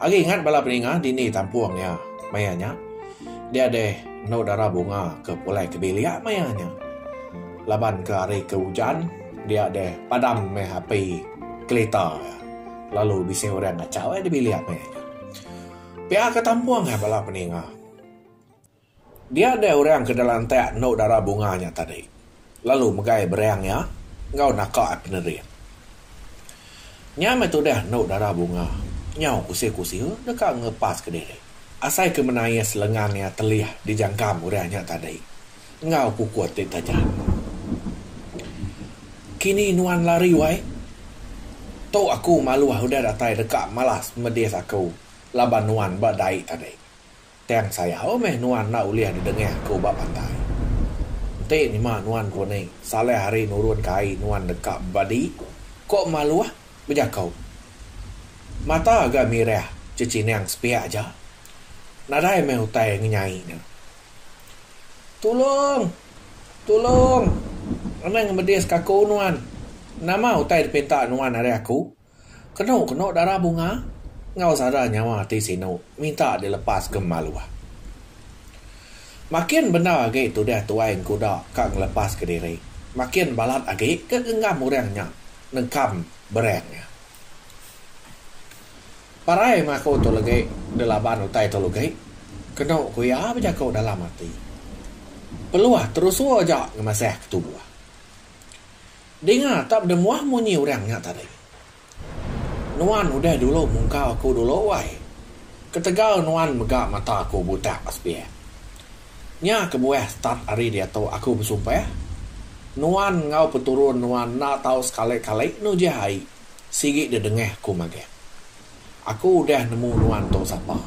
Agi ingat bala peninga dini tampung iya maya nya. Dia deh enu dara bunga ke pulai ke bilik maya nya. Laban ke hari ke ujan, dia deh padam meh api kelita iya lalu bisi orang ngachau iya di bilik maya nya. Pia ke tampung iya bala peninga. Dia deh orang ke delantak endo dara bunga nya tadi lalu megai berang iya enggau naka ai penering. Nya meh tudah endo dara bunga nyau kusil-kusil deka ngelepas ke diri asai ke menais lengan iya telih di jangkam orang nya tadi enggau kukut ti tajam. Kini nuan lari wai. Tu aku maluh udah datai deka malas medis aku laban nuan ba dai tadi. Tang sayau meh nuan enda ulih dedengah ku ba pantai. Enti nyema nuan ku ni, salah ari nurun ke ai nuan deka bebadi, ko Maluh bejaku. Mata ga mirah cecinang sepiak aja. Nadai meh utai ngenyai nya. Tulung! Tulung! Anang medis kaku nuan. Nama utai dipinta nuan ari aku? Kenu kenu dara bunga enggau sada nyawa ti sinu minta dilepas ke maluh. Makin bendar agi tudah tuai engkuda ka ngelepas ke diri, makin balat agi ke genggam orang nya nengkam berang iya. Parai meh aku tu legi dilaban utai tu legi, kenu ku iya bejaku dalam ati. Peluh terusur aja ngemasah ke tubuh. Dinga tak bedemuah munyi urang nya tadi. Nuan udah dulu mungkau aku dulu wai. Ketegal nuan mega mata aku butak sebiak. Nya kebuah start ari diatu aku besumpah, nuan enggau peturun nuan enda tau sekali-kali nujah ai sigi dedengah aku magang. Aku udah nemu nuan tu sapa.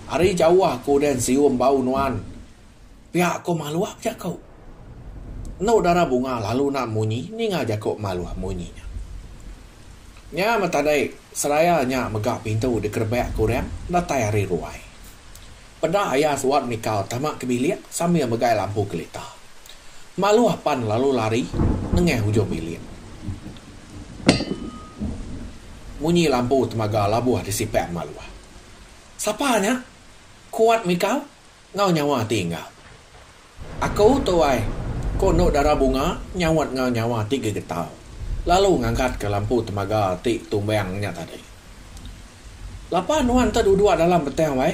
Ari jauh aku udah nsium bau nuan. Pia ko Maluh bejako. Endo dara bunga lalu enda munyi ninga jako Maluh munyi nya. Nya meh tadi seraya nya mega pintu dikerebak ke orang datai ari ruai. Peda aya suat mikau tama ke bilik sambil megai lampu kelita. Maluh pan lalu lari nengah ujung bilik. Munyi lampu temaga labuh disipak Maluh. Sapa nya? Kuat mikau Enggau nyawa ati engga. Aku tu ai, ku Endu Dara Bunga nyaut enggau nyawa ati gegetau lalu ngangkatka lampu temaga ti tumbang nya tadi. Lapa nuan te duduk dalam betang wai,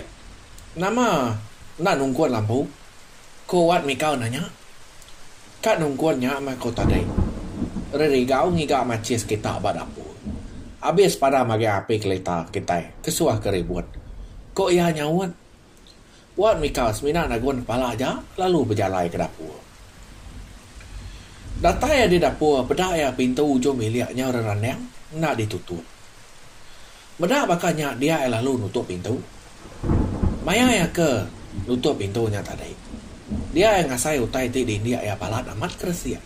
nama enda nungkun lampu? ku Wat Mikau nanya. Ka nungkun nya meh ku tadi, Ririgau ngiga machis kita ba dapur. Abis padam agi api kelita kitai kesuah ke ribut, ku iya nyaut. Wan Mikal semina nagun kepala aja lalu bejalai ke dapur. Datai iya di dapur peda iya pintu ujung bilik nya rerandang enda ditutup. Meda baka nya dia iya lalu nutup pintu. Maya iya ke nutup pintu nya tadi dia iya ngasai utai ti diindik iya balat amat ke resik.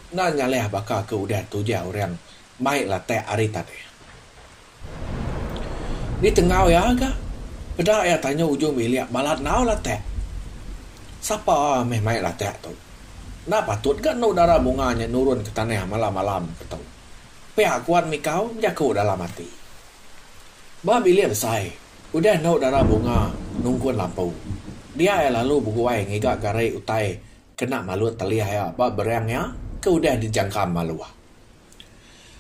Enda nyalih baka ke udah tujah orang mai latak ari tanah. Ni tengau iya ga. Peda iya tanya ujung bilik balat enggau latak. Sapa meh mai latak tu. Enda patut ga enu dara bunga nya nurun ke tanah malam malam ke tu. Pia kuan mikau bejaku dalam ati. Ba bilik besai udah enu dara bunga nungkun lampu. Dia iya lalu beguai ngiga gari utai kena malut telih iya ba bereng iya ke udah dijangkam maluh.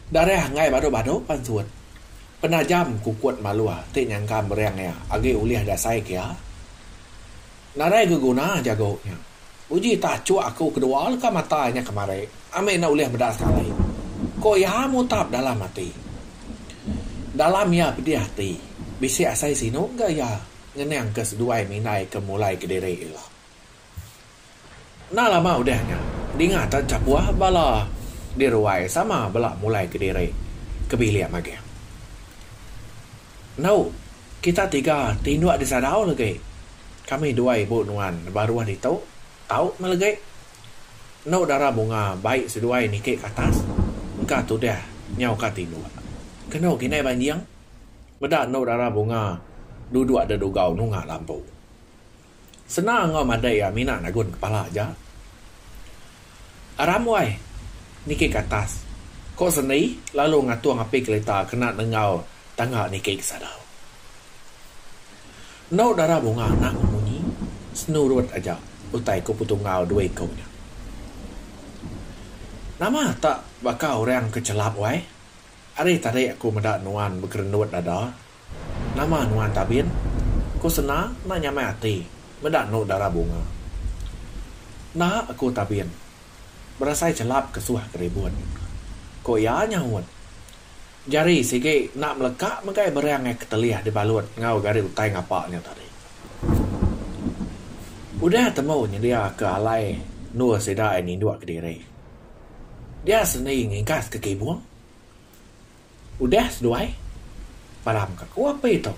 Darah enggai badu-badu pan suut. Penajam kukut maluh ti nyangka mering iya agi ulih dasai ke iya. Nadai ke guna jagu nya. Uji tachuk aku kedua leka mata inya kemari ambi enda ulih meda sekali, ku iya mutap dalam ati. Dalam iya pedih ati, bisi asai sinu ga iya ngenang ke seduai mina iya ke mulai kediri ila. Enda lama udah nya, dinga tan chapuh bala di ruai sama bela mulai ke diri ke bilik magih. Endo, kita tiga ti indu di sadau legi. Kami dua ibu nuan baruh ditu tau meh legi. Endo dara bunga bai seduai niki ke atas, engka tudah nyau ka tinduk. Kenu ke indai banjing, meda endo dara bunga duduk da dugau nunga lampu. Senang enggau madai iya mina nagun kepala aja. Aramway niki ke atas, ko Seni lalu ngatung api kelita kena nenggau tangga niki ke sadau. Endo dara bunga anak memunyi senurut aja utai ko Petunggal dua iko nya. Nama tak baka orang ke chelap wai, ari tadi aku meda nuan bekerendut dada. Nama nuan Tabin? ku Sena enda nyamai ati meda endu dara bunga. Enda, ku Tabin berasai chelap kesuh keribut, ku iya nyahut. Jari sigi enda meleka megai berang ai ketelih dibalut enggau gari utai ngapa nya tadi. Udah temu nyediaka alai endur sida ai ninduk kediri. Dia seni ngingkaska kibung. Udah seduai, param ka ku api tu,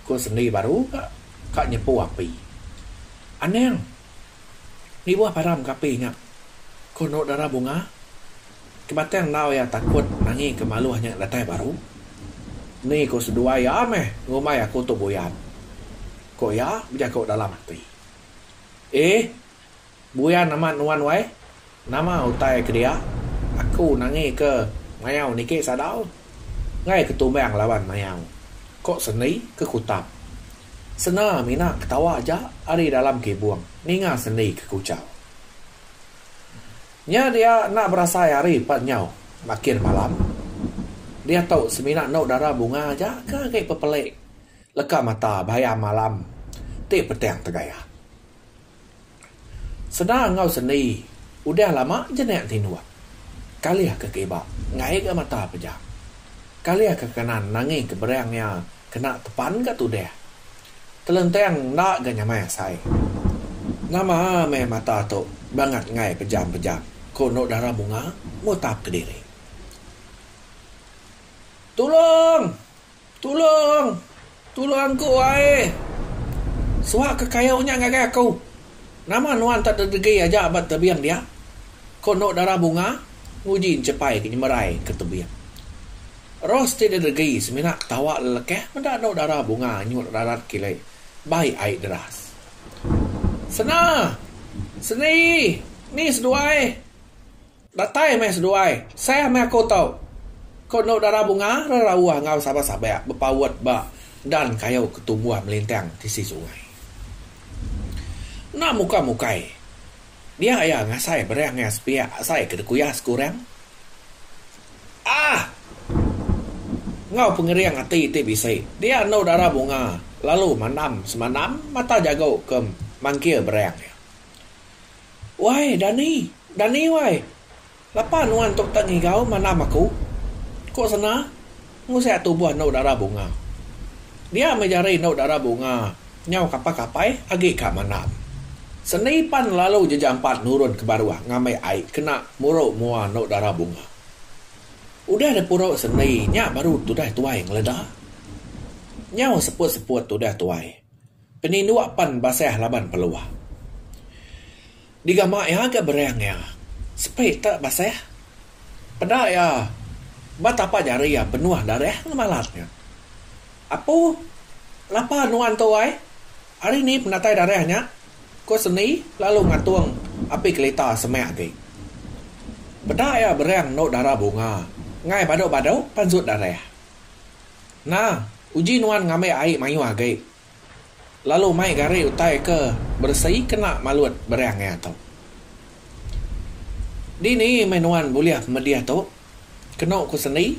ku sendi baru ka, ka nyepu api. Anang, nibuh param ka api nya, ku enu dara bunga, ke batang enggau iya takut nangi ke maluh nya datai baru. Ni ku seduai iya meh ngumbai aku tu buyan, ku iya bejaku dalam ati. Eeh, Buyan amat nuan wai. Nama utai ke dia? Aku nangi ke mayau niki sadau. Enggai ke tumbang laban mayau. Ko Sendi ke kutap. Sena mina ketawa aja ari dalam kibung ninga Sendi ke kuchau. Nya dia enda berasai hari pan nyau makir malam. Diatu semina endo dara bunga aja ke agi pepeli leka mata bayam alam ti petang tegaya. Sena enggau sendi udah lama jenek tinduk. Kalih ke kiba ngai ga mata pejam. Kalih ke kanan nangi ke berang iya kena tepan ga tudah. Kelenteng enda ga nyamai asai. Nama meh mata tu bangat ngai pejam-pejam ko endo dara bunga mutap kediri. Tulong! Tulung! Tulung aku ai! Suah ke kayu nya ngagai aku. Nama nuan tak dedegi aja ba tebing dia? Ku Endok Dara Bunga nguji enchepai ke nyemerai ke tebing. Ros ti dedegi semina ketawa lelekeh meda Endok Dara Bunga nyut rarat kile bai ai deras. Sena! Seni! Ni seduai! Datai meh seduai, seh meh aku tu, ko Endok Dara Bunga rerauh enggau sabak-sabak bepaut ba dan kayu ke tumbuh melintang tisi sungai. Enda muka mukai dia iya ngasai berang iya sepiak asai ke dikuyah sekurang. Aah! Enggau pengering ati ti bisi, dia Endok Dara Bunga lalu mandam semandam mata jago ke mangkir berang iya. Wai, Dani! Dani, wai! Lapa nuan tu tak ngigau mandam aku? Ku Sena, ngusik tubuh enu dara bunga. Dia meh jari enu dara bunga nyau kapai-kapai agi ka mandam. Sendi pan lalu jejampat nurun ke baruh ngambi ai kena muru mua enu dara bunga. Udah dipuru sendi nya baru tudah tuai ngeleda. Nyau seput-seput tudah tuai. Peninduk pan basah laban peluh. Digama iya ga berang iya. Sepi te basah. Peda iya ba tapa jari iya benuh darah ngemalat nya. Apu lapa nuan tu ai. Ari ni penatai darah nya? ku Seni lalu ngatung api kelita semak agi. Peda iya berang endu dara bunga ngai badu-badu pansut darah. Nah, uji nuan ngambi ai mayuh agi, lalu mai gari utai ke beresi kena malut beri angin tu. Dini meh nuan bulih medih tu? Kenu ku sendi,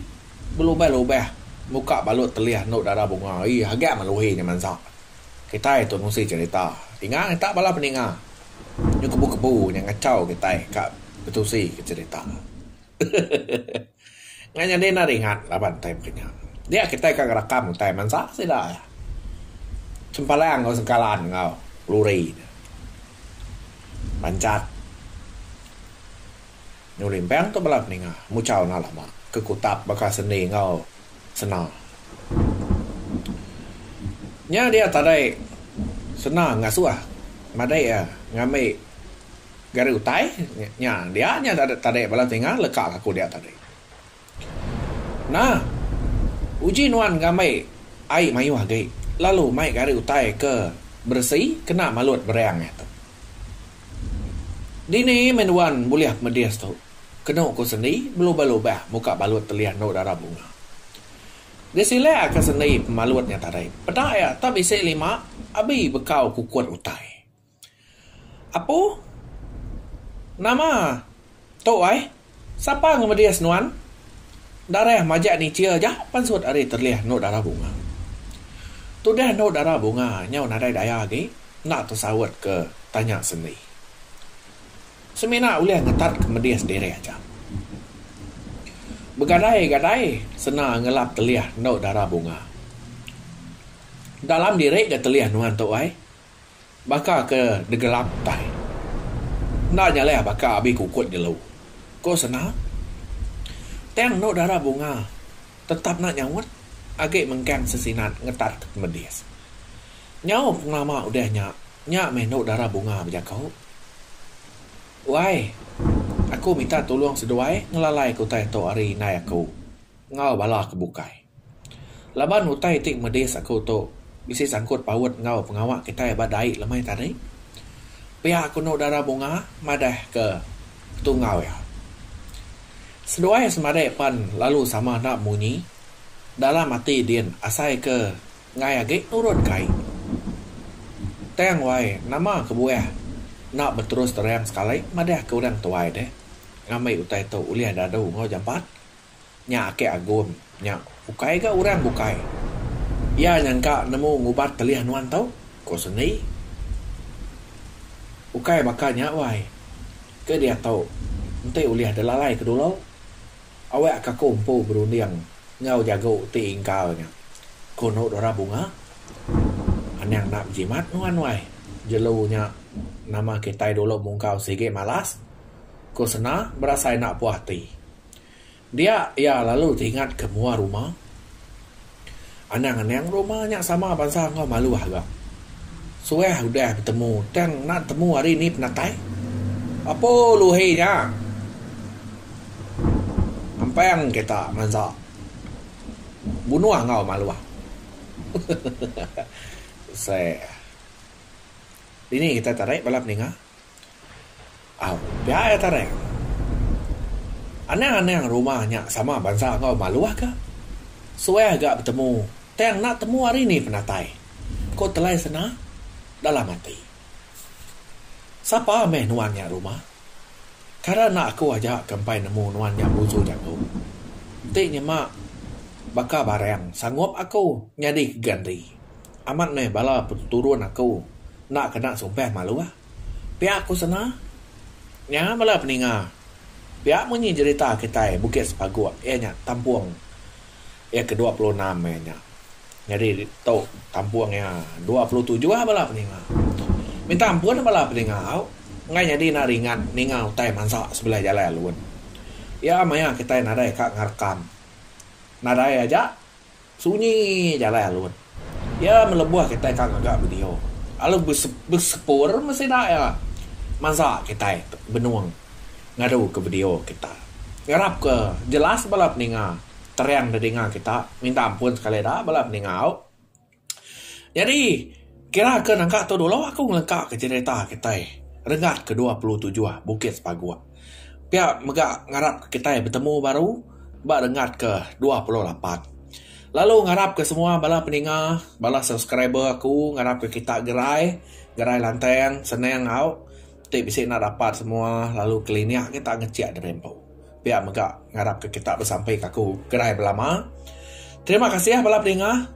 belubah-lubah muka balut telih endu dara bunga ai haga meluhi nya mansa. Kitai tu nusi cherita, inga ngita bala peninga nyu kebu-kebu nya ngachau kitai ka betusi ke cherita. Ngan nyadi enda ringat laban time ke nya. Dia kitai ka ngerakam utai mansa sida iya. Sempelang enggau sengkalan enggau luri nya. Bancat nyulimpang tu bala peninga muchau enda lama ke kutap baka sendi enggau sena. Nya dia tadai sena ngasuh madai iya ngambi. Gari utai nya dia nya tadi bala tinga leka ka aku dia tadi. Nah uji nuan ngambi ai mayuh agi lalu mai gari utai ke beresi kena malut bereng nya tu. Dini meh nuan bulih medis tu kenu ku sendi belubah-lubah muka balut telih endu dara bunga. Disilek ka sendi pemalut nya tadi peda iya tak bisi lima abi bekau kukut utai. Apu, nama tu ai? Sapa ngemedis nuan? Darah majak nichir aja pansut ari terlih enu darah bunga. Tudah enu darah bunga nyau nadai daya agi enda tesaut ke tanya Sendi. Semina ulih ngetat ke medis diri aja. Begadai-gadai sena ngelap telih enu darah bunga. Dalam diri ga telih nuan tu ai? Baka ke degelap utai. Enda nyalih baka abi kukut jelu. Ko Sena. Tang enu dara bunga tetap enda nyaut agi mengkang sesinat ngetat ke pemedis. Nyau pengelama udah nya, nya meh enu dara bunga bejaku. Wai, aku minta tulung seduai ngelalai ke utai tu ari indai aku enggau bala ke bukai. Laban utai ti medis aku tu bisi sangkut paut enggau pengawa kitai ba dai lemai tadi, pia aku enu dara bunga madah ke tunggau iya. Seduai semadi pan lalu sama enda munyi dalam ati din asai ke enggai agi nurun kai. Tang wai nama kebuah enda beterus terang sekali madah ke orang tuai deh ngambi utai tu ulih dadu enggau jampat Nya ake Agum nya ukai ga urang bukai. Iya nyangka nemu ngubat telih nuan tu, ko Sendi. Ukai baka nya wai. Ke diatu enti ulih delalai ke dulu, awak ka ko empu berunding enggau jago ti ingkar nya. Ko Nok Dora Bunga, Anang enda bejimat nuan wai. Jelu nya nama kitai dulu mungkau sigi malas, ko Sena berasai enda puah ati. Dia iya lalu teringat ke mua ruma. Anang-anang ruma nya sama bansa enggau malu haga. Suah udah betemu tang enda temu hari ni penatai. Apo luhi nya. Ampang kita mansa bunuh enggau malu. Seh. Dini kita tarik bala peninga. Au, pia iya tarang. Anang-anang rumah nya sama bansa enggau maluh ka. Suah ga betemu, tang enda temu ari ni penatai, ku Telai Sena dalam ati. Sapa meh nuan nya rumah? Kara enda aku aja ke empai nemu nuan nya busu jaku. Ti nyema baka barang sanggup aku nyadi ke gandri. Amat meh bala peturun aku enda kena sumpah maluh. Pia ku sena nya bala peninga pia munyi jerita kitai Bukit Sepaguk iya nya tampung iya ke dua puluh enam iya nya. Nyadi tu tampung iya dua puluh tujuh bala peninga. Minta ampun lah bala peninga au enggai nyadi enda ringat ninga utai mansa sebelah jalai alun. Iya maya kitai nadai ka ngerekam. Nadai aja. Sunyi jalai alun. Iya melebuh kitai ka ngaga video lalu besepur meh sida iya mansa kitai benung ngaduka video kita. Ngarapka jelas bala peninga, terang dedinga kita minta ampun sekali da bala peningau. Nyadi. Kira ke nengka tu dulu aku ngelengka ke cerita kitai Rengat ke dua puluh tujuh Bukit Sepaguk. Pia mega ngarap ke kitai betemu baru ba Rengat ke dua puluh lapan. Lalu ngarap ke semua bala peninga, bala subscriber aku ngarap ke kita gerai, gerai lantang, senang au ti bisi enda dapat semua lalu kelinik kita ngecik diri empu. Pia mega ngarap ke kita besampi ke aku gerai belama. Terima kasih bala peninga.